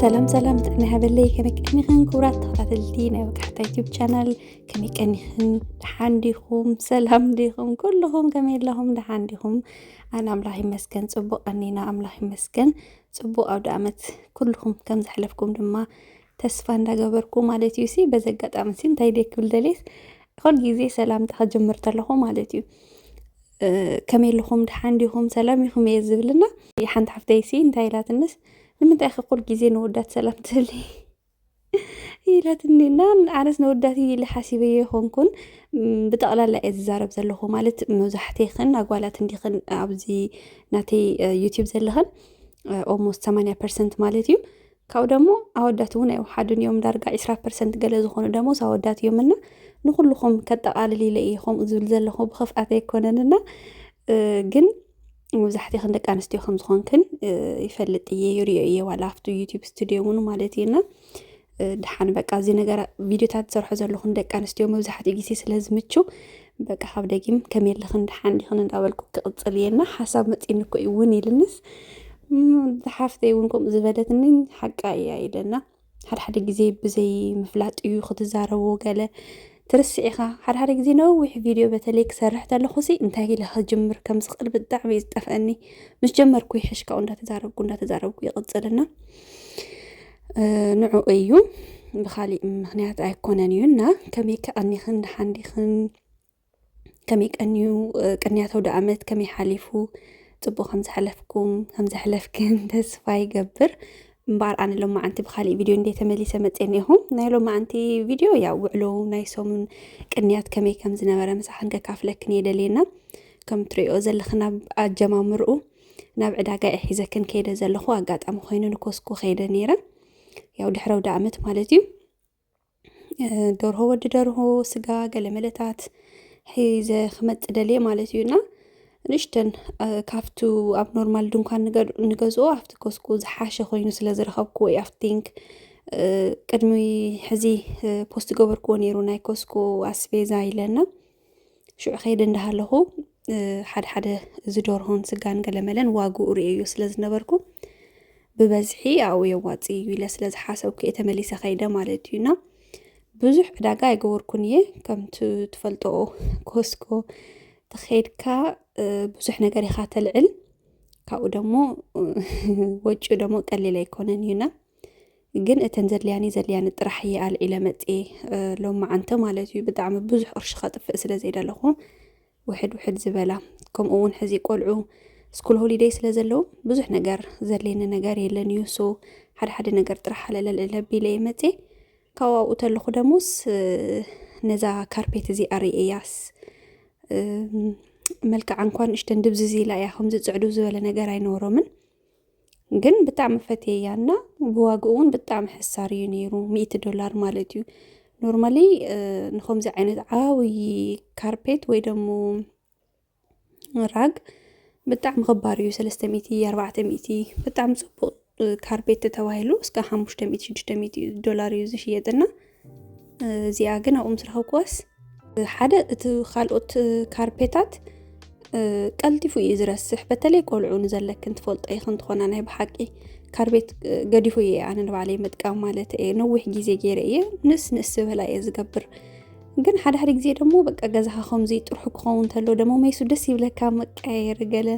ሰላም ሰላም ጥዕና ይሃበለይ ከመይ ቀኒኽን ክቡራት ተኸታተልቲ ናይ ወጋሕታ ዩቲብ ቻናል ከመይ ቀኒኽን ደሓን ዲኹም ሰላም ዲኹም ኩልኹም ከመይ ኣለኹም ደሓን ዲኹም ኣነ ኣምላኽ ይመስገን ፅቡቅ ቀኒና ኣምላኽ ይመስገን ፅቡቅ ኣውደ ኣመት ኩልኹም ከም ዘሕለፍኩም ድማ ተስፋ እንዳገበርኩ ማለት እዩ ሲ በዚ ኣጋጣሚ ሲ እንታይ ደይ ክብል ደልየስ ኩሉ ግዜ ሰላምታ ክጅምር ተለኹ ማለት እዩ ከመይ ኣለኹም ድሓን ዲኹም ሰላም ኢኹም እየ ዝብልና ሓንቲ ሓፍተይ ሲ እንታይ ኢላትንስ ንምንታይ ከ ኩሉ ግዜ ንወዳት ሰላም ትህሊ ኢላትኒ እና ኣነስ ንወዳት ኢለ ሓሲበዮ ይኾንኩን ብጠቕላላ እየ ዝዛረብ ዘለኹ ማለት መብዛሕትኽን ኣጓላት እንዲኽን ኣብዚ ናተይ ዩቲብ ዘለኽን ኦልሞስት 80 ፐርሰንት ማለት እዩ ካብኡ ደሞ ኣወዳት እውን ኣይወሓዱን እዮም ዳርጋ ዒስራ ፐርሰንት ገለ ዝኾኑ ደሞዝ ኣወዳት እዮም እና ንኹልኹም ከጠቓልል ኢለ እየ ከምኡ ዝብል ዘለኹ ብኽፍኣት ኣይኮነን እና ግን መብዛሕትኽን ደቂ ኣንስትዮ ከም ዝኾንክን ይፈልጥ እየ ይሪኦ እየ ዋላ ኣብቲ ዩቲብ ስቱድዮ እውን ማለት እዩ እና ድሓን በቃ እዚ ነገር ቪድዮታት ዝሰርሖ ዘለኹን ደቂ ኣንስትዮ መብዛሕትኡ ግዜ ስለ ዝምችው በቃ ካብ ደጊም ከመይ ኣለኽን ደሓን ዲኽን እንዳበልኩ ክቕፅል እየ እና ሓሳብ መፂኒ እኮ እዩ እውን ኢልንስ ዝሓፍተይ እውን ከምኡ ዝበለትኒ ሓቃ እያ ኢለና ሓድሓደ ግዜ ብዘይ ምፍላጥ እዩ ክትዛረቦ ገለ ትርስዕ ኢኻ ሓድሓደ ግዜ ነዊሕ ቪድዮ በተለይ ክሰርሕ ተለኹሲ እንታይ ኢለ ክጅምር ከም ዝኽእል ብጣዕሚ እዩ ዝጠፍአኒ ምስ ጀመርኩ ይሕሽካኡ እንዳተዛረብኩ እንዳተዛረብኩ ይቕፅልና ንዑ እዩ ብካሊእ ምክንያት ኣይኮነን እዩ እና ከመይ ከቀኒክን ደሓን ዲክን ከመይ ቀንዩ ቅንያት ኣውደኣመት ከመይ ሓሊፉ ፅቡቅ ከምዝሓለፍኩም ከምዘሕለፍክን ተስፋ ይገብር እምበኣር ኣነ ሎማዓንቲ ብካሊእ ቪድዮ እንደ ተመሊሰ መፅአ እኒኹ ናይ ሎማዓንቲ ቪድዮ ያው ውዕሎ ናይ ሰሙን ቅንያት ከመይ ከም ዝነበረ ምሳክን ከካፍለክን እየ ደልየና ከም ትሪኦ ዘለክን ኣብ ኣጀማምርኡ ናብ ዕዳጋ እየ ሒዘክን ከይደ ዘለኹ ኣጋጣሚ ኮይኑ ንኮስኮ ከይደ ነይረ ያው ድሕረ ወደ ዓመት ማለት እዩ ደርሆ ወዲ ደርሆ ስጋ ገለመለታት ሒዘ ክመፅ ደልየ ማለት እዩ እና ንሽተን ካብቱ ኣብ ኖርማል ድንኳን ንገዝኦ ኣብቲ ኮስኮ ዝሓሸ ኮይኑ ስለ ዝረኸብኩ ወይ ኣብቲ ቲንክ ቅድሚ ሕዚ ፖስት ገበርክዎ ነይሩ ናይ ኮስኮ ኣስቤዛ ኢለና ሽዑ ከይደ እንዳሃለኹ ሓደ ሓደ እዚ ዶርሆን ስጋን ገለመለን ዋግኡ ርእየዮ ስለ ዝነበርኩ ብበዝሒ ኣብኡ የዋፅ እዩ ኢለ ስለ ዝሓሰብኩ እየ ተመሊሰ ከይደ ማለት እዩ እና ብዙሕ ዕዳጋ ኣይገበርኩን እየ ከምቲ ትፈልጦ ኮስኮ ተኸይድካ ብዙሕ ነገር ኢኻ ተልዕል ካብኡ ደሞ ወጪኡ ደሞ ቀሊል ኣይኮነን እዩና ግን እተን ዘድልያኒ ዘድልያኒ ጥራሕ እየ ኣልዒለ መፅኤ ሎማዓንተ ማለት እዩ ብጣዕሚ ብዙሕ ቅርሺ ከጥፍእ ስለ ዘይደለኹ ውሕድ ውሕድ ዝበላ ከምኡ እውን ሕዚ ቆልዑ ስኩል ሆሊደይ ስለ ዘለዉ ብዙሕ ነገር ዘድልየኒ ነገር የለን እዩ ሶ ሓደ ሓደ ነገር ጥራሕ ኣለለልዕለ ቢለ እየ መፅኤ ካብኡ ኣብኡ ተለኹ ደሞስ ነዛ ካርፔት እዚኣ ርእያስ መልክዓ እንኳን እሽተን ድብዝዝ ኢላ እያ ከምዚ ፅዕዱ ዝበለ ነገር ኣይነበሮምን ግን ብጣዕሚ ፈትየያ እና ብዋግኡ እውን ብጣዕሚ ሕሳር እዩ ነይሩ ሚእቲ ዶላር ማለት እዩ ኖርማሊ ንከምዚ ዓይነት ዓብዪ ካርፔት ወይ ደሞ ራግ ብጣዕሚ ክባር እዩ ሰለስተ ሚእቲ ኣርባዕተ ሚእቲ ብጣዕሚ ፅቡቅ ካርፔት ተባሂሉ እስከ ሓሙሽተ ሚእቲ ሽዱሽተ ሚእቲ ዶላር እዩ ዝሽየጥ እና እዚኣ ግን ኣብኡ ምስ ረኸብኩዋስ ሓደ እቲ ካልኦት ካርፔታት ቀልጢፉ እዩ ዝረስሕ በተለይ ቆልዑ ንዘለክን ትፈልጦ ይኽ እንትኾና ናይ ብሓቂ ካርቤት ገዲፉ እየ ኣነ ንባዕለይ ምጥቃም ማለት እየ ነዊሕ ግዜ ገይረ እየ ንስ ንስ ዝበላ እየ ዝገብር ግን ሓደ ሓደ ግዜ ደግሞ በቃ ገዛኻ ከምዚ ጥርሑ ክኸውን ተሎ ደሞ መይሱ ደስ ይብለካ መቀያየር ገለ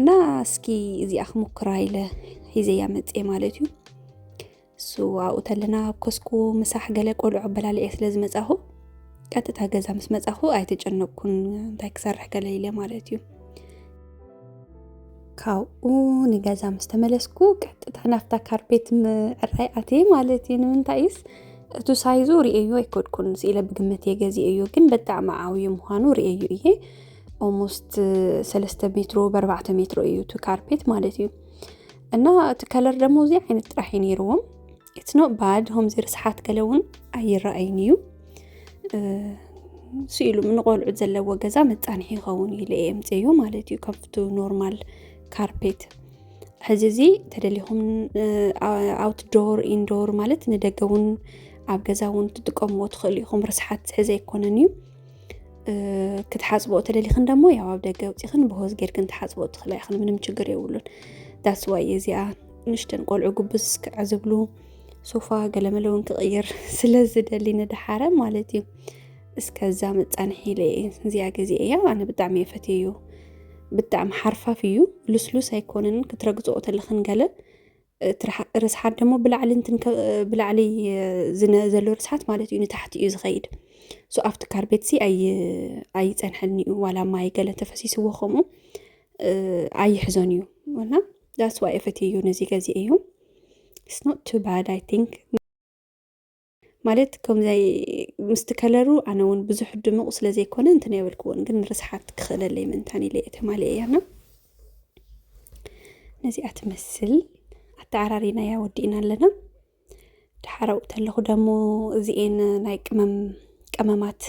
እና እስኪ እዚኣ ክሙክራ ኢለ ሒዘያ መፅኤ ማለት እዩ እሱ ኣብኡ ተለና ኣብ ኮስኩ ምሳሕ ገለ ቆልዑ ኣበላልዔ ስለ ዝመፃኹ ቀጥታ ገዛ ምስ መፃኹ ኣይተጨነቅኩን እንታይ ክሰርሕ ገለ ኢለ ማለት እዩ ካብኡ ንገዛ ምስ ተመለስኩ ቀጥታ ናብታ ካርፔት ምዕራይ ኣትየ ማለት እዩ ንምንታይስ እቱ ሳይዙ ርእዮ ኣይኮድኩን ስኢለ ብግምት እየ ገዚ እዩ ግን በጣዕሚ ዓብዩ ምዃኑ ርእዩ እየ ኦልሞስት ሰለስተ ሜትሮ በርባዕተ ሜትሮ እዩ እቲ ካርፔት ማለት እዩ እና እቲ ከለር ደግሞ እዚ ዓይነት ጥራሕ እዩ ነይርዎም ኢትስ ኖት ባድ ከምዚ ርስሓት ገለ እውን ኣይረኣይን እዩ ስኢሉ ንቆልዑት ዘለዎ ገዛ መፃንሒ ይኸውን ኢለ እየ ምፅዮ ማለት እዩ ካብቲ ኖርማል ካርፔት ሕዚ እዚ ተደሊኹም ኣውትዶር ኢንዶር ማለት ንደገ እውን ኣብ ገዛ እውን ትጥቀምዎ ትኽእሉ ኢኹም ርስሓት ዝሕዘ ኣይኮነን እዩ ክትሓፅቦ ተደሊኽን ደሞ ያው ኣብ ደገ ውፅኽን ብሆዝ ጌርክን ትሓፅቦ ትኽእላ ኢኽን ምንም ችግር የብሉን ዳስ ዋይ እዚኣ ንሽተን ቆልዑ ጉብዝ ክዕዝብሉ ሶፋ ገለመለ እውን ክቕይር ስለ ዝደሊ ንድሓረ ማለት እዩ እስከዛ መፃንሒ ኢለ እዚኣ ገዜ እያ ኣነ ብጣዕሚ እየ ፈትየ እዩ ብጣዕሚ ሓርፋፍ እዩ ልስሉስ ኣይኮነንን ክትረግፅኦ ተለኽን ገለ ርስሓት ደሞ ብላዕሊ ብላዕሊ ዘሎ ርስሓት ማለት እዩ ንታሕቲ እዩ ዝኸይድ ሶ ኣብቲ ካር ቤትሲ ኣይፀንሐኒ እዩ ዋላ ማይ ገለ ተፈሲስዎ ከምኡ ኣይሕዞን እዩ እና ዳስዋ እዩ ነዚ ገዜ እዩ ስኖት ቱ ባድ ኣይ ቲንክ ማለት ከምዛይ ምስቲ ከለሩ ኣነ እውን ብዙሕ ድሙቕ ስለ ዘይኮነ እንትን የበልክዎን ግን ርስሓት ክኽእለለይ ምንታን ኢለ ተማሊ እያና ነዚኣ ትመስል ኣተዓራሪናያ ወዲእና ኣለና ድሓረኡ ተለኹ ደሞ እዚኤን ናይ ቅመም ቀመማት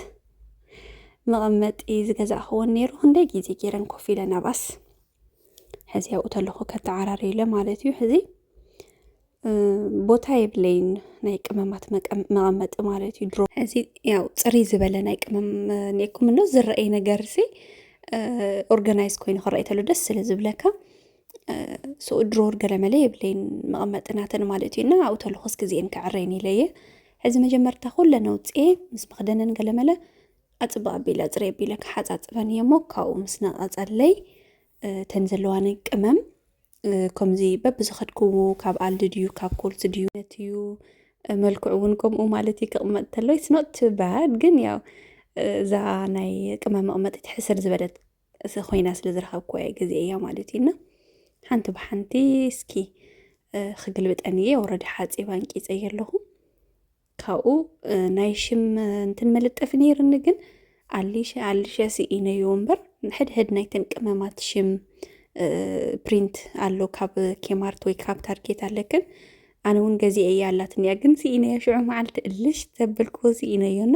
መቐመጢ ዝገዛእኽዎን ነይሩ ክንደይ ግዜ ገይረን ኮፍ ኢለን ኣባስ ሕዚ ኣብኡ ተለኹ ከተዓራሪ ኢለ ማለት እዩ ሕዚ ቦታ የብለይን ናይ ቅመማት መቐመጢ ማለት እዩ ድሮ እዚ ያው ፅሪ ዝበለ ናይ ቅመም ኔኩም እኖ ዝረአይ ነገር ሲ ኦርጋናይዝ ኮይኑ ክረአይ ተሎ ደስ ስለ ዝብለካ ስኡ ድሮ ገለመለ የብለይን መቐመጥናተን ማለት እዩ እና ኣብኡ ተለኹስ ግዜን ክዕረይን ኢለየ ሕዚ መጀመርታ ኩለ ነውፅኤ ምስ መኽደነን ገለመለ ኣፅባ ኣቢለ ፅሪ ኣቢለ ክሓፃፅበን እየ እሞ ካብኡ ምስ ነቐፀለይ ተን ዘለዋኒ ቅመም ከምዚ በብዝኸድክዎ ካብ ኣልዲ ድዩ ካብ ኮልት ድዩ ነትዩ መልክዑ እውን ከምኡ ማለት እዩ ክቕመጥ ተሎ ኢትስ ኖት ቱ ባድ ግን ያው እዛ ናይ ቅመም መቕመጢት ሕስር ዝበለት ኮይና ስለ ዝረኸብኩ እየ ግዜ እያ ማለት እዩ እና ሓንቲ ብሓንቲ እስኪ ክግልብጠን እየ ወረዲ ሓፂብ ኣንቂፀ ኣለኹ ካብኡ ናይ ሽም እንትን መልጠፊ ነይርኒ ግን ኣሊሸ ኣሊሸ ስኢነዮ እምበር ሕድሕድ ናይተን ቅመማት ሽም ፕሪንት ኣሎ ካብ ኬማርት ወይ ካብ ታርጌት ኣለክን ኣነ እውን ገዚአ እያ ኣላትኒ እያ ግን ስኢነዮ ሽዑ መዓልቲ እልሽ ዘበልክዎ ስኢነዮና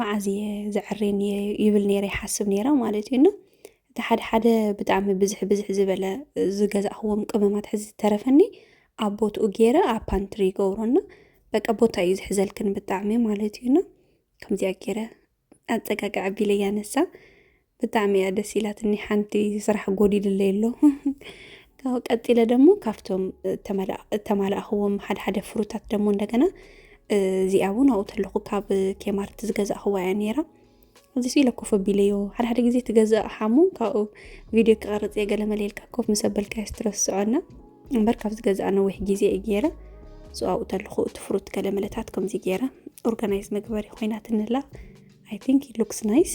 መዓዝ እየ ዘዕሪ ይብል ነይረ ይሓስብ ነይረ ማለት እዩ እና እቲ ሓደ ሓደ ብጣዕሚ ብዝሕ ብዝሕ ዝበለ ዝገዛእኽዎም ቅመማት ሕዚ ዝተረፈኒ ኣብ ቦትኡ ገይረ ኣብ ፓንትሪ ይገብሮና በቃ ቦታ እዩ ዝሕዘልክን ብጣዕሚ ማለት እዩና ከምዚኣ ገይረ ኣፀጋግዐ ቢለያ ነሳ ብጣዕሚ እያ ደስ ኢላትኒ ሓንቲ ስራሕ ጎዲልለይ ኣሎ ካብኡ ቀፂለ ደሞ ካብቶም እተማላእኽዎም ሓደ ሓደ ፍሩታት ደሞ እንደገና እዚኣ እውን ኣብኡ ተለኹ ካብ ኬማርት ዝገዛእኽዋ እያ ነይራ እዚ ስኢለ ኮፍ ኣቢለዮ ሓደ ሓደ ግዜ ትገዛእ ሓሙ ካብኡ ቪድዮ ክቐርፅ እየ ገለ መለየልካ ኮፍ ምስ ኣበልካዮ ስትረስዖና እምበር ካብ ዝገዛእ ነዊሕ ግዜ እዩ ገይረ ሶ ኣብኡ ተለኹ እቲ ፍሩት ገለ መለታት ከምዚ ገይረ ኦርጋናይዝ መግበሪ ኮይናትንላ ኣይ ቲንክ ሉክስ ናይስ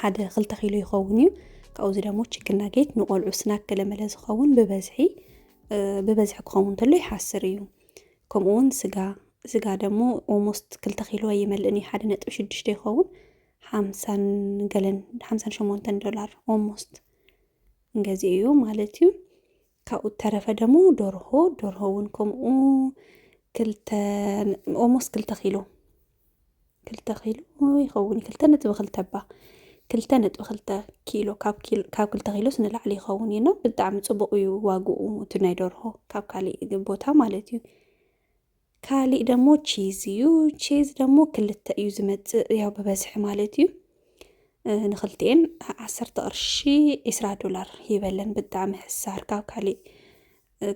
ሓደ ክልተ ኪሎ ይኸውን እዩ ካብኡ እዚ ደግሞ ችክን ናጌት ንቆልዑ ስናክ ገለመለ ዝኸውን ብበዝሒ ብበዝሒ ክኸውን እንተሎ ይሓስር እዩ ከምኡውን ስጋ ስጋ ደግሞ ኦልሞስት ክልተ ኪሎ ኣይመልእን እዩ ሓደ ነጥቢ ሽዱሽተ ይኸውን ሓምሳን ገለን ሓምሳን ሸሞንተን ዶላር ኦልሞስት እንገዚ እዩ ማለት እዩ ካብኡ እተረፈ ደሞ ደርሆ ደርሆ እውን ከምኡ ክልተ ኦሞስ ክልተ ኪሎ ክልተ ኪሎ ይኸውን ክልተ ነጥቢ ክልተ ባ ክልተ ነጥቢ ክልተ ኪሎ ካብ ክልተ ኪሎስ ንላዕሊ ይኸውን እዩ ና ብጣዕሚ ፅቡቅ እዩ ዋግኡ እቲ ናይ ደርሆ ካብ ካሊእ ቦታ ማለት እዩ ካሊእ ደሞ ቺዝ እዩ። ቺዝ ደሞ ክልተ እዩ ዝመፅእ ያው ብበዝሒ ማለት እዩ። ንክልቲኤን ዓሰርተ ቅርሺ ዒስራ ዶላር ይበለን ብጣዕሚ ሕሳር ካብ ካሊእ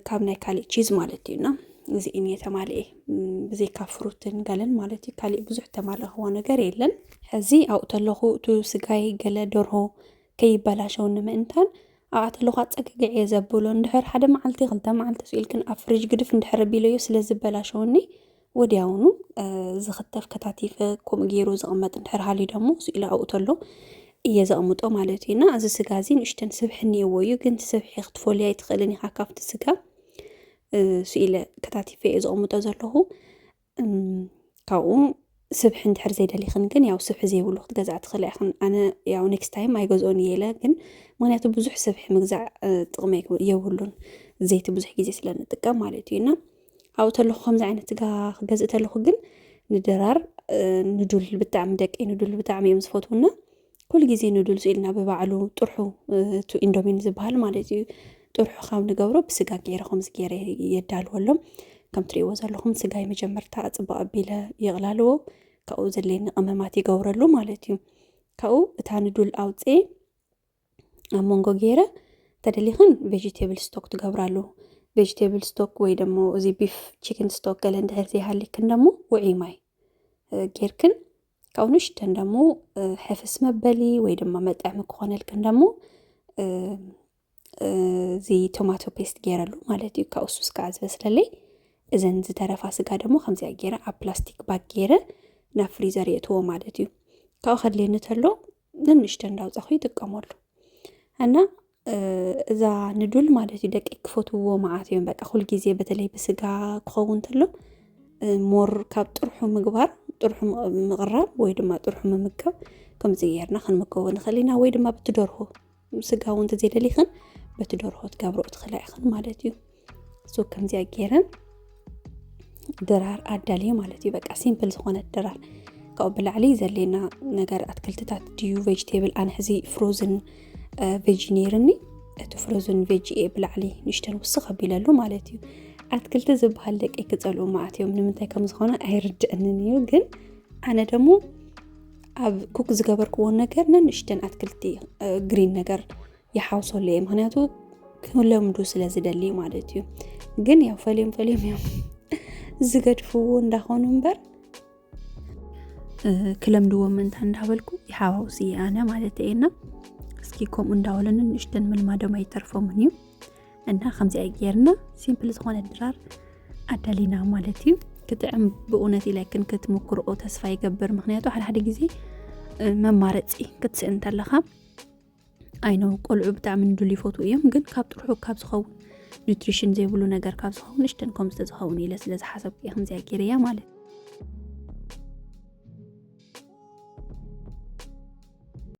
ካብ ናይ ካሊእ ቺዝ ማለት እዩና እዚእን እየ ተማልኤ ብዘይካ ፍሩትን ገለን ማለት እዩ። ካሊእ ብዙሕ ተማለኽዎ ነገር የለን። ሕዚ ኣብኡ ተለኹ እቲ ስጋይ ገለ ደርሆ ከይበላሸወኒ ምእንታን ኣቓተልዃ ኣጸግግዔ ዘብሎ እንድሕር ሓደ መዓልቲ ክልተ መዓልቲ ስኢልክን ኣብ ፍሪጅ ግድፍ እንድሕር ቢለዮ ስለ ዝበላሸወኒ ወዲያውኑ ዝኽተፍ ከታቲፈ ከምኡ ገይሩ ዝቕመጥ እንድሕር ሃልዩ ደሞ ስኢሉ ኣብኡ ተሎ እየ ዘቕምጦ ማለት እዩ እና እዚ ስጋ እዚ ንእሽተን ስብሒ እኒኦዎ እዩ ግን ስብሒ ክትፈልያ ኣይትኽእልን ኢኻ ካብቲ ስጋ ስኢለ ከታቲፈ እየ ዘቕምጦ ዘለኹ ካብኡ ስብሒ እንድሕር ዘይደሊኽን ግን ያው ስብሒ ዘይብሉ ክትገዝኣ ትኽእላ ኢኽን። ኣነ ያው ኔክስት ታይም ኣይገዝኦን እየ ኢለ ግን ምክንያቱ ብዙሕ ስብሒ ምግዛእ ጥቕሚ የብሉን ዘይቲ ብዙሕ ግዜ ስለ ንጥቀም ማለት እዩ እና ኣብኡ ተለኹ ከምዚ ዓይነት ስጋ ክገዝእ ተለኹ ግን ንድራር ንዱል ብጣዕሚ ደቂ ንዱል ብጣዕሚ እዮም ዝፈትውና ኩሉ ግዜ ኑድልስ ኢልና ብባዕሉ ጥርሑ እቲ ኢንዶሚን ዝበሃል ማለት እዩ ጥርሑ ካብ ንገብሮ ብስጋ ገይረ ከምዚ ገይረ የዳልወሎም ከም ትሪእዎ ዘለኹም ስጋይ መጀመርታ ፅቡቅ ኣቢለ ይቕላልዎ ካብኡ ዘድልየኒ ቅመማት ይገብረሉ ማለት እዩ ካብኡ እታ ንዱል ኣውፅኤ ኣብ መንጎ ገይረ ተደሊኽን ቬጅቴብል ስቶክ ትገብራሉ ቬጅቴብል ስቶክ ወይ ደሞ እዚ ቢፍ ቺክን ስቶክ ገለ እንድሕር ዘይሃሊክን ደሞ ውዒ ማይ ጌርክን ካብኡ ንሽተን ደሞ ሕፍስ መበሊ ወይ ድማ መጥዕሚ ክኾነልክን ደሞ እዚ ቶማቶ ፔስት ገይረሉ ማለት እዩ ካብኡ ሱስ ከዓ ዝበስለለይ እዘን ዝተረፋ ስጋ ደሞ ከምዚኣ ገይረ ኣብ ፕላስቲክ ባግ ገይረ ናብ ፍሪዘር የእትዎ ማለት እዩ ካብኡ ከድልየኒ ተሎ ንንሽተ እንዳውፃኹ ይጥቀመሉ እና እዛ ንዱል ማለት እዩ ደቂ ክፈትውዎ መዓት እዮም በቃ ኩል ግዜ በተለይ ብስጋ ክኸውን ተሎ ሞር ካብ ጥርሑ ምግባር ጥርሑ ምቕራብ ወይ ድማ ጥርሑ ምምጋብ ከምዚ ጌርና ክንምገቦ ንኽእል ኢና ወይ ድማ ብትደርሆ ስጋ እውን እንተዘይደሊኽን በቲ ደርሆ ትገብርኦ ትኽእላ ኢኽን ማለት እዩ እሱ ከምዚያ ገይረን ድራር ኣዳልየ ማለት እዩ በቃ ሲምፕል ዝኾነት ድራር ካብኡ ብላዕሊ ዘሌና ነገር ኣትክልትታት ድዩ ቬጅቴብል ኣነ ሕዚ ፍሮዝን ቬጅ ነይርኒ እቲ ፍሮዝን ቬጅኤ ብላዕሊ ንሽተን ውስኽ ኣቢለሉ ማለት እዩ ኣትክልቲ ዝበሃል ደቂ ክፀልኡ ማዓት እዮም ንምንታይ ከም ዝኾነ ኣይርድእንን እዩ ግን ኣነ ደግሞ ኣብ ኩክ ዝገበርክዎ ነገር ነንእሽተን ኣትክልቲ ግሪን ነገር ይሓውሰሉ እየ ምክንያቱ ክለምዱ ስለ ዝደሊ ማለት እዩ ግን ያው ፈልዮም ፈልዮም እዮም ዝገድፍዎ እንዳኾኑ እምበር ክለምድዎ ምንታ እንዳበልኩ ይሓዋውስ እየ ኣነ ማለት እየና እስኪ ከምኡ እንዳበለ ነንእሽተን ምልማዶም ኣይተርፎምን እዩ እና ከምዚኣ ጌርና ሲምፕል ዝኾነ ድራር ኣዳሊና ማለት እዩ ክጥዕም ብእውነት ኢለክን ክትምክርኦ ተስፋ ይገብር ምክንያቱ ሓደሓደ ግዜ መማረፂ ክትስእል እንተለኻ ኣይነ ቆልዑ ብጣዕሚ ንድሉ ይፈትዉ እዮም ግን ካብ ጥርሑ ካብ ዝኸውን ኒትሪሽን ዘይብሉ ነገር ካብ ዝኸውን እሽተን ከም ዝተዝኸውን ኢለ ስለ ዝሓሰብኩ እየ ከምዚኣ ጌርያ ማለት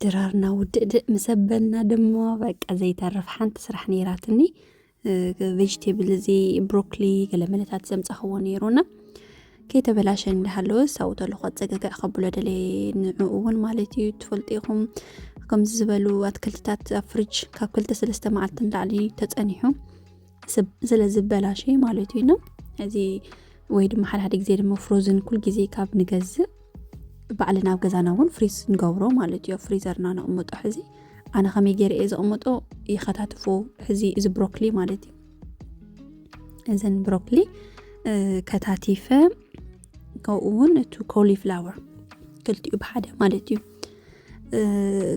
ድራርና ውድእድእ ምሰበልና ድማ በቃ ዘይተርፍ ሓንቲ ስራሕ ነይራትኒ ቬጅቴብል እዚ ብሮኮሊ ገለመለታት ዘምጻኽዎ ነይሩና ከይተበላሸ እንዳሃለወ ሳውተሉ ከፀገግዕ ከብሎ ደለየ ንዕኡ እውን ማለት እዩ ትፈልጡ ኢኹም ከምዚ ዝበሉ ኣትክልትታት ኣብ ፍርጅ ካብ ክልተ ሰለስተ መዓልቲ ንላዕሊ ተፀኒሑ ስለ ዝበላሸ ማለት እዩ እዚ ወይ ድማ ሓደ ሓደ ግዜ ድማ ፍሮዝን ኩል ግዜ ካብ ንገዝእ ባዕልና ኣብ ገዛና እውን ፍሪዝ ንገብሮ ማለት እዮ ፍሪዘርና ነቕምጦ ሕዚ ኣነ ከመይ ገይረ እየ ዘቕምጦ ይኸታትፉ ሕዚ እዚ ብሮኮሊ ማለት እዩ እዘን ብሮኮሊ ከታቲፈ ከምኡ እውን እቲ ኮሊፍላወር ክልቲኡ ብሓደ ማለት እዩ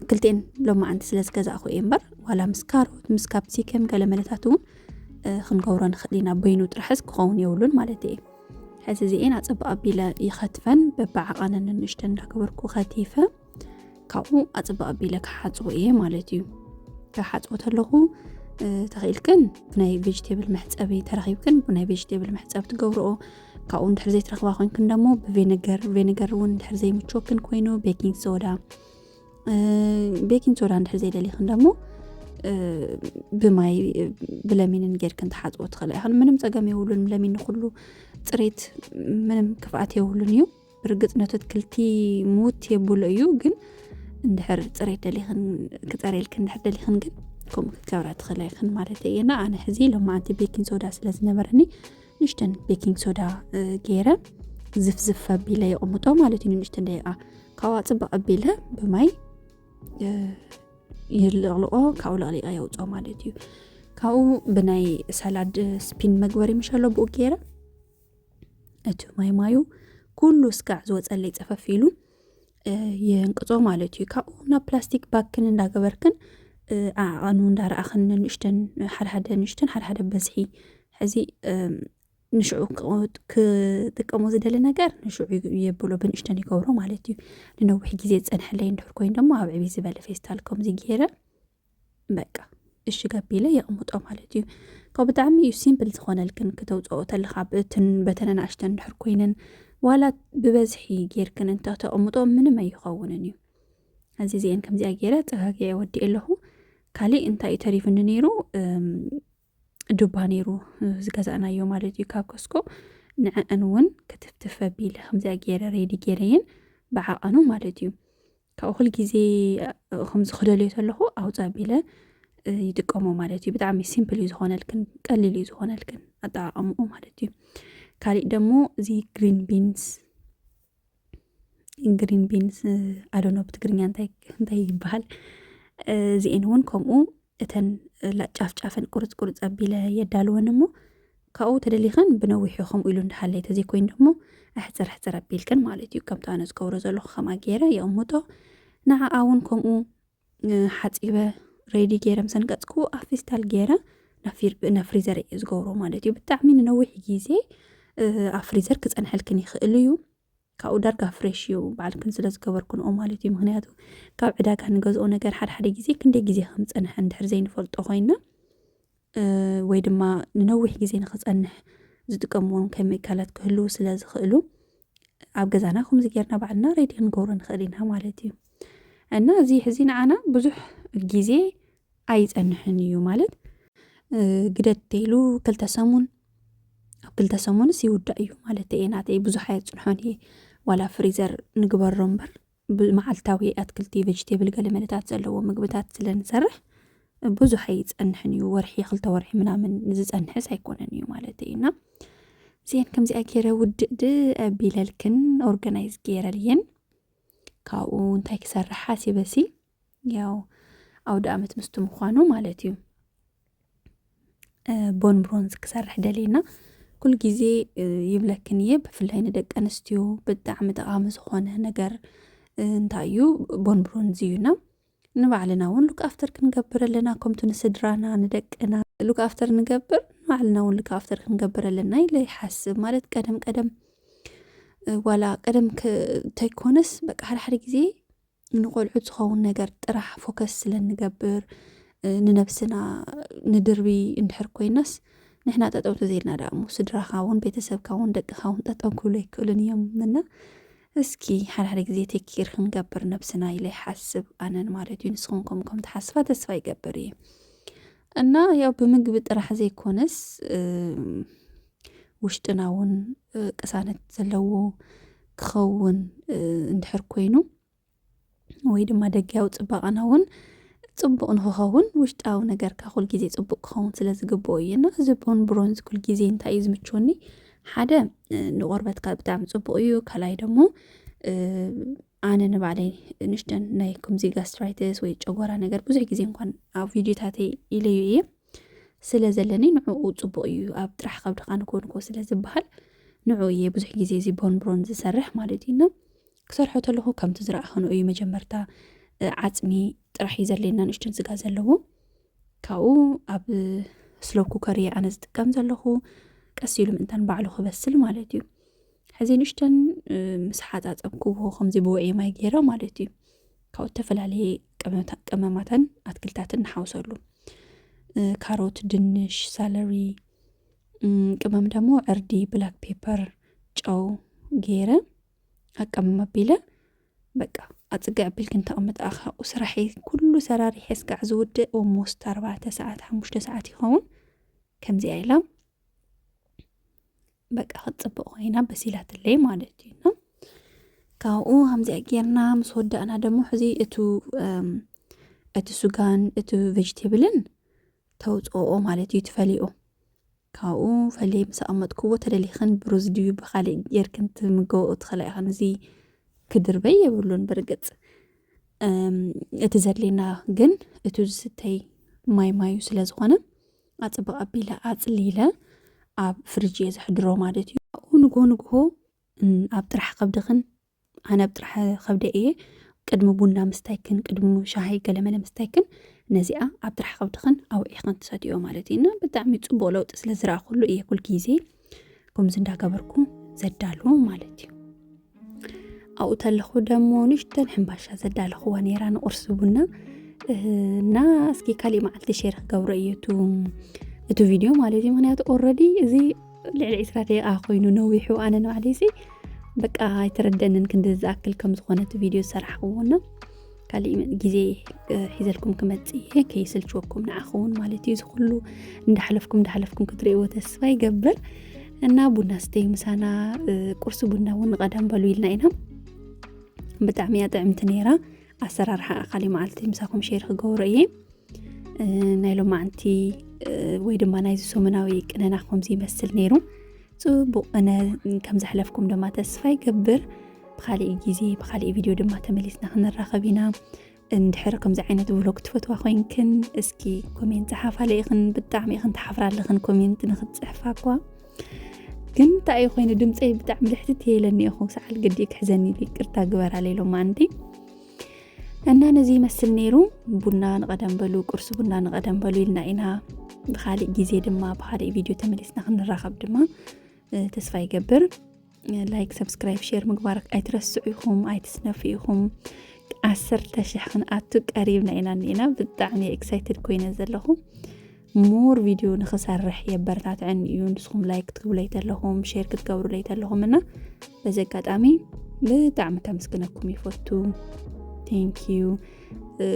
ክልቲኤን ሎማ ዓንቲ ስለ ዝገዛእኹ እየ እምበር ዋላ ምስ ካሮት ምስ ካፕሲከም ገለ መለታት እውን ክንገብሮ ንኽእል ኢና በይኑ ጥራሕስ ክኸውን የብሉን ማለት እየ ሕዚ እዚኤን ኣጸብቕ ኣቢለ ይኸትፈን በብዓቐንን ንንእሽተ እንዳገበርኩ ከቲፈ ካብኡ ኣጸብቕ ኣቢለ ክሓጽቦ እየ ማለት እዩ ክሓጽቦ ተለኹ ተኽኢልክን ብናይ ቬጅቴብል መሕፀቢ ተረኺብክን ብናይ ቬጅቴብል መሕፀቢ ትገብርኦ ካብኡ እንድሕር ዘይትረኽባ ኮንክን ደሞ ብቬነገር ቬነገር እውን እንድሕር ዘይምቾክን ኮይኑ ቤኪንግ ሶዳ ቤኪን ሶዳ እንድሕር ዘይደሊኽን ደሞ ብማይ ብለሚንን ጌርክን ትሓፅቦ ትኽእላ ኢኻን ምንም ፀገም የብሉን ለሚን ንኩሉ ፅሬት ምንም ክፍኣት የብሉን እዩ ብርግፅ ነቲ ኣትክልቲ ሙት የብሎ እዩ ግን እንድሕር ፅሬት ደሊኽን ክፀርየልክ እንድሕር ደሊኽን ግን ከምኡ ክትገብራ ትኽእላ ኢኽን ማለት እየና ኣነ ሕዚ ሎማዓንቲ ቤኪን ሶዳ ስለ ዝነበረኒ ንሽተን ቤኪንግ ሶዳ ገይረ ዝፍዝፍ ኣቢለ የቕምጦ ማለት እዩ ንሽተን ደቂቃ ካብኣ ፅባቕ ኣቢለ ብማይ ይልቕልቆ ካብኡ ለቕሊቐ የውፅኦ ማለት እዩ ካብኡ ብናይ ሰላድ ስፒን መግበሪ ምሸሎ ብኡ ገይረ እቲ ማይ ማዩ ኩሉ ስጋዕ ዝወፀለይ ፀፈፍ ኢሉ የንቅጾ ማለት እዩ ካብኡ ናብ ፕላስቲክ ባክን እንዳገበርክን ኣዕቐኑ እንዳረኣኽን ንንእሽተን ሓደሓደ ንእሽተን ሓደሓደ በዝሒ ሕዚ ንሽዑ ክጥቀሙ ዝደሊ ነገር ንሽዑ የብሎ ብንእሽተን ይገብሮ ማለት እዩ ንነዊሕ ግዜ ዝፀንሐለይ እንድሕር ኮይኑ ደሞ ኣብ ዕብይ ዝበለ ፌስታል ከምዚ ገይረ በቃ እሽግ ኣቢለ የቕምጦ ማለት እዩ ካብ ብጣዕሚ እዩ ሲምፕል ዝኾነልክን ክተውፅኦ ተለኻ ብእትን በተን ኣናእሽተን ድሕር ኮይነን ዋላ ብበዝሒ ጌርክን እንተተቕምጦ ምንም ኣይኸውንን እዩ እዚ እዚአን ከምዚኣ ገይረ ፀጋጊዐ ወዲእ ኣለኹ ካሊእ እንታይ እዩ ተሪፍኒ ነይሩ ዱባ ነይሩ ዝገዛእናዮ ማለት እዩ ካብ ከስኮ ንዕአን እውን ክትፍትፍ ኣቢለ ከምዚኣ ገይረ ሬዲ ገይረየን ብዓቐኑ ማለት እዩ ካብኡ ኩል ግዜ ከምዚ ክደልዮ ተለኹ ኣውፅ ኣቢለ ይጥቀሞ ማለት እዩ ብጣዕሚ ሲምፕል እዩ ዝኾነልክን ቀሊል እዩ ዝኾነልክን ኣጠቃቀምኡ ማለት እዩ ካሊእ ደግሞ እዚ ግሪን ቢንስ ግሪን ቢንስ ኣዶኖ ብትግርኛ እንታይ ይበሃል እዚኤን እውን ከምኡ እተን ጫፍ ጫፈን ቁርፅ ቁርፅ ኣቢለ የዳልወን እሞ ካብኡ ተደሊኸን ብነዊሑ ከምኡ ኢሉ እንዳሃለይ ተዘይኮይኑ ደሞ ኣሕፅር ኣሕፅር ኣቢልክን ማለት እዩ ከምቲ ኣነ ዝገብሮ ዘለኹ ከምኣ ገይረ የቕምጦ ንዓኣ እውን ከምኡ ሓፂበ ሬዲ ገይረ ምሰን ቀፅኩ ኣብ ፌስታል ገይረ ናብ ፍሪዘር እዩ ዝገብሮ ማለት እዩ ብጣዕሚ ንነዊሕ ግዜ ኣብ ፍሪዘር ክፀንሐልክን ይኽእል እዩ ካብኡ ዳርጋ ፍሬሽ እዩ ባዕልክን ስለ ዝገበርክንኦ ማለት እዩ ምክንያቱ ካብ ዕዳጋ ንገዝኦ ነገር ሓደሓደ ግዜ ክንደይ ግዜ ከም ዝፀንሐ እንድሕር ዘይንፈልጦ ኮይና ወይ ድማ ንነዊሕ ግዜ ንክፀንሕ ዝጥቀምዎም ኬሚካላት ክህልው ስለ ዝኽእሉ ኣብ ገዛና ከምዚ ጌርና ባዕልና ሬዲ ክንገብሮ ንኽእል ኢና ማለት እዩ እና እዚ ሕዚ ንዓና ብዙሕ ግዜ ኣይፀንሕን እዩ ማለት ግደት ተይሉ ክልተ ሰሙን ኣብ ክልተ ሰሙንስ ይውዳእ እዩ ማለት እየ ናተይ ብዙሕ ኣየፅንሖን እየ ዋላ ፍሪዘር ንግበሮ እምበር መዓልታዊ ኣትክልቲ ቨጅቴብል ገለ መለታት ዘለዎ ምግብታት ስለ ንሰርሕ ብዙሕ ኣይፀንሕን እዩ ወርሒ ክልተ ወርሒ ምናምን ዝፀንሕስ ኣይኮነን እዩ ማለት እዩ እና እዚአን ከምዚኣ ገይረ ውድእድ ኣቢለልክን ኦርጋናይዝ ገይረልየን ካብኡ እንታይ ክሰርሕ ሓሲበሲ ያው ኣውደ ኣመት ምስቲ ምዃኑ ማለት እዩ ቦን ብሮንዝ ክሰርሕ ደልየና ኩሉ ግዜ ይብለክን እየ ብፍላይ ንደቂ ኣንስትዮ ብጣዕሚ ጠቓሚ ዝኾነ ነገር እንታይ እዩ ቦን ብሮንዝ እዩና ንባዕልና እውን ሉክ ኣፍተር ክንገብር ኣለና ከምቲ ንስድራና ንደቅና ሉክ ኣፍተር ንገብር ንባዕልና እውን ሉክ ኣፍተር ክንገብር ኣለና ኢለ ይሓስብ ማለት ቀደም ቀደም ዋላ ቀደም ተይኮነስ በቃ ሓደ ሓደ ግዜ ንቆልዑት ዝኸውን ነገር ጥራሕ ፎከስ ስለ እንገብር ንነብስና ንድርቢ እንድሕር ኮይናስ ንሕና ጠጠው ተዘይልና ዳእሞ ስድራኻ እውን ቤተሰብካ እውን ደቅኻ እውን ጠጠው ክብሉ ኣይክእሉን እዮም እና እስኪ ሓድሓደ ግዜ ቴኪር ክንገብር ነብስና ኢለ ይሓስብ ኣነን ማለት እዩ ንስኹም ከም ከም ተሓስባ ተስፋ ይገብር እዩ እና ያው ብምግቢ ጥራሕ ዘይኮነስ ውሽጥና እውን ቅሳነት ዘለዎ ክኸውን እንድሕር ኮይኑ ወይ ድማ ደጊያዊ ፅባቐና እውን ፅቡቕ ንክኸውን ውሽጣዊ ነገርካ ኩል ግዜ ፅቡቅ ክኸውን ስለ ዝግብኦ እዩ እና እዚ ቦን ብሮንዝ ኩል ግዜ እንታይ እዩ ዝምችወኒ ሓደ ንቆርበትካ ብጣዕሚ ፅቡቅ እዩ ካልኣይ ደግሞ ኣነ ንባዕለይ ንሽደን ናይ ከምዚ ጋስትራይትስ ወይ ጨጎራ ነገር ብዙሕ ግዜ እንኳን ኣብ ቪድዮታተይ ኢለዩ እየ ስለ ዘለኒ ንዕኡ ጽቡቕ እዩ ኣብ ጥራሕ ከብድኻ ንኮንኮ ስለ ዝበሃል ንዕኡ እየ ብዙሕ ግዜ እዚ ቦንብሮን ዝሰርሕ ማለት እዩ እና ክሰርሖ ተለኹ ከምቲ ዝረኣኸንኦ እዩ መጀመርታ ዓፅሚ ጥራሕ እዩ ዘድልየና ንእሽትን ስጋ ዘለዎ ካብኡ ኣብ ስሎ ኩከር እየ ኣነ ዝጥቀም ዘለኹ ቀስ ኢሉ ምእንታን ባዕሉ ክበስል ማለት እዩ ሕዚ ንእሽተን ምስ ሓፃፀብክዎ ከምዚ ብውዕየ ማይ ገይረ ማለት እዩ ካብ እተፈላለየ ቀመማትን ኣትክልታትን ንሓውሰሉ ካሮት፣ ድንሽ፣ ሳለሪ፣ ቅመም ደሞ ዕርዲ፣ ብላክ ፔፐር፣ ጨው ገይረ ኣቀመም ኣቢለ በቃ ኣፅግዕ ኣቢል ክንተቕምጥ ኣኻብኡ ስራሒ ኩሉ ሰራሪሐ ስጋዕ ዝውድእ ኦሞስት ኣርባዕተ ሰዓት ሓሙሽተ ሰዓት ይኸውን ከምዚኣ ኢላ በቃ ክትፅብቕ ኮይና በሲላትለይ ማለት እዩ እና ካብኡ ከምዚኣ ጌርና ምስ ወዳእና ደሞ ሕዚ እቱ እቲ ሱጋን እቲ ቬጅቴብልን ተውፅኦ ማለት እዩ ትፈልኦ ካብኡ ፈለይ ምስ ኣቐመጥክዎ ተደሊኽን ብሩዝ ድዩ ብካሊእ ጌርክን ትምገበኦ ትኽእላ ኢኽን እዚ ክድርበይ የብሉን ብርግፅ እቲ ዘድሌና ግን እቲ ዝስተይ ማይ ማዩ ስለ ዝኾነ ኣፅብቕ ኣቢለ ኣፅሊለ ኣብ ፍርጅ እየ ዘሕድሮ ማለት እዩ ኣብኡ ንጎ ንግሆ ኣብ ጥራሕ ከብድኽን ኣነ ኣብ ጥራሕ ከብደ እየ ቅድሚ ቡና ምስታይክን ቅድሚ ሻሂ ገለመለ ምስታይክን ነዚኣ ኣብ ጥራሕ ከብድኽን ኣውዒኽን ትሰትዮ ማለት እዩ እና ብጣዕሚ ፅቡቅ ለውጢ ስለ ዝረኣኹሉ እየ ኩል ግዜ ከምዚ እንዳገበርኩ ዘዳልዎ ማለት እዩ ኣብኡ ተለኹ ደሞ ንሽተን ሕምባሻ ዘዳለኹዋ ነይራ ንቁርሲ ቡና እና እስኪ ካሊእ መዓልቲ ሸር ክገብሮ እዩ እቲ ቪድዮ ማለት እዩ ምክንያቱ ኦረዲ እዚ ልዕሊ ዕስራ ደቂቃ ኮይኑ ነዊሑ ኣነ ንባዕለይሲ በቃ ኣይተረደንን ክንዲ ዝኣክል ከም ዝኾነ እቲ ቪድዮ ዝሰራሕክዎና ካሊእ ግዜ ሒዘልኩም ክመፅእ እየ ከይስልችወኩም ንዓኹውን ማለት እዩ ዝኩሉ እንዳሕለፍኩም እንዳሕለፍኩም ክትርእይዎ ተስፋ ይገብር እና ቡና ስተዩ ምሳና ቁርሲ ቡና እውን ንቐዳም በሉ ኢልና ኢና ብጣዕሚ እያ ጥዕምቲ ነይራ ኣሰራርሓ ኣካሊ መዓልቲ ምሳኹም ሸር ክገብሮ እየ ናይ ሎማዓንቲ ወይ ድማ ናይዚ ሰሙናዊ ቅነና ከምዚ ይመስል ነይሩ ፅቡቅ እነ ከም ዘሕለፍኩም ድማ ተስፋ ይገብር ብካሊእ ግዜ ብካሊእ ቪድዮ ድማ ተመሊስና ክንራኸብ ኢና እንድሕር ከምዚ ዓይነት ብሎግ ትፈትዋ ኮይንክን እስኪ ኮሜንት ፀሓፋለ ኢኽን ብጣዕሚ ኢኽን ተሓፍራ ኣለኽን ኮሜንት ንክትፅሕፋ እኳ ግን እንታይ እዩ ኮይኑ ድምፀይ ብጣዕሚ ልሕትት የለኒ ኢኹ ሰዓል ግዲ ክሕዘኒ ይቅርታ ግበራለ ኢሎም ኣንቲ እና ነዚ ይመስል ነይሩ ቡና ንቐደም በሉ ቁርሲ ቡና ንቐደም በሉ ኢልና ኢና ብካሊእ ግዜ ድማ ብካሊእ ቪድዮ ተመሊስና ክንራኸብ ድማ ተስፋ ይገብር ላይክ ሰብስክራይብ ሸር ምግባር ኣይትረስዑ ኢኹም ኣይትስነፉ ኢኹም ዓሰርተ ሽሕ ክንኣቱ ቀሪብና ኢና እኒና ብጣዕሚ ኤክሳይትድ ኮይነ ዘለኹ ሞር ቪድዮ ንክሰርሕ የበረታትዐኒ እዩ ንስኹም ላይክ ክትግብለይ ተለኹም ሼር ክትገብሩለይ ተለኹም እና በዚ ኣጋጣሚ ብጣዕሚ ከምስግነኩም ይፈቱ ቴንኪዩ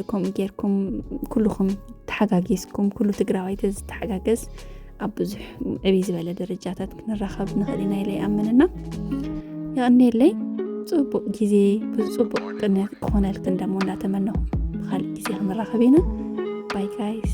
ከምኡ ጌርኩም ኩልኹም ተሓጋጊዝኩም ኩሉ ትግራዋይ ተዝተሓጋገዝ ኣብ ብዙሕ ዕብይ ዝበለ ደረጃታት ክንራኸብ ንኽእል ኢና ኢለ ይኣምን እና የቕኒየለይ ፅቡቕ ግዜ ብፅቡቕ ቅንያት ክኾነልክን ደሞ እናተመነኹ ብካልእ ግዜ ክንራኸብ ኢና ባይ ጋይስ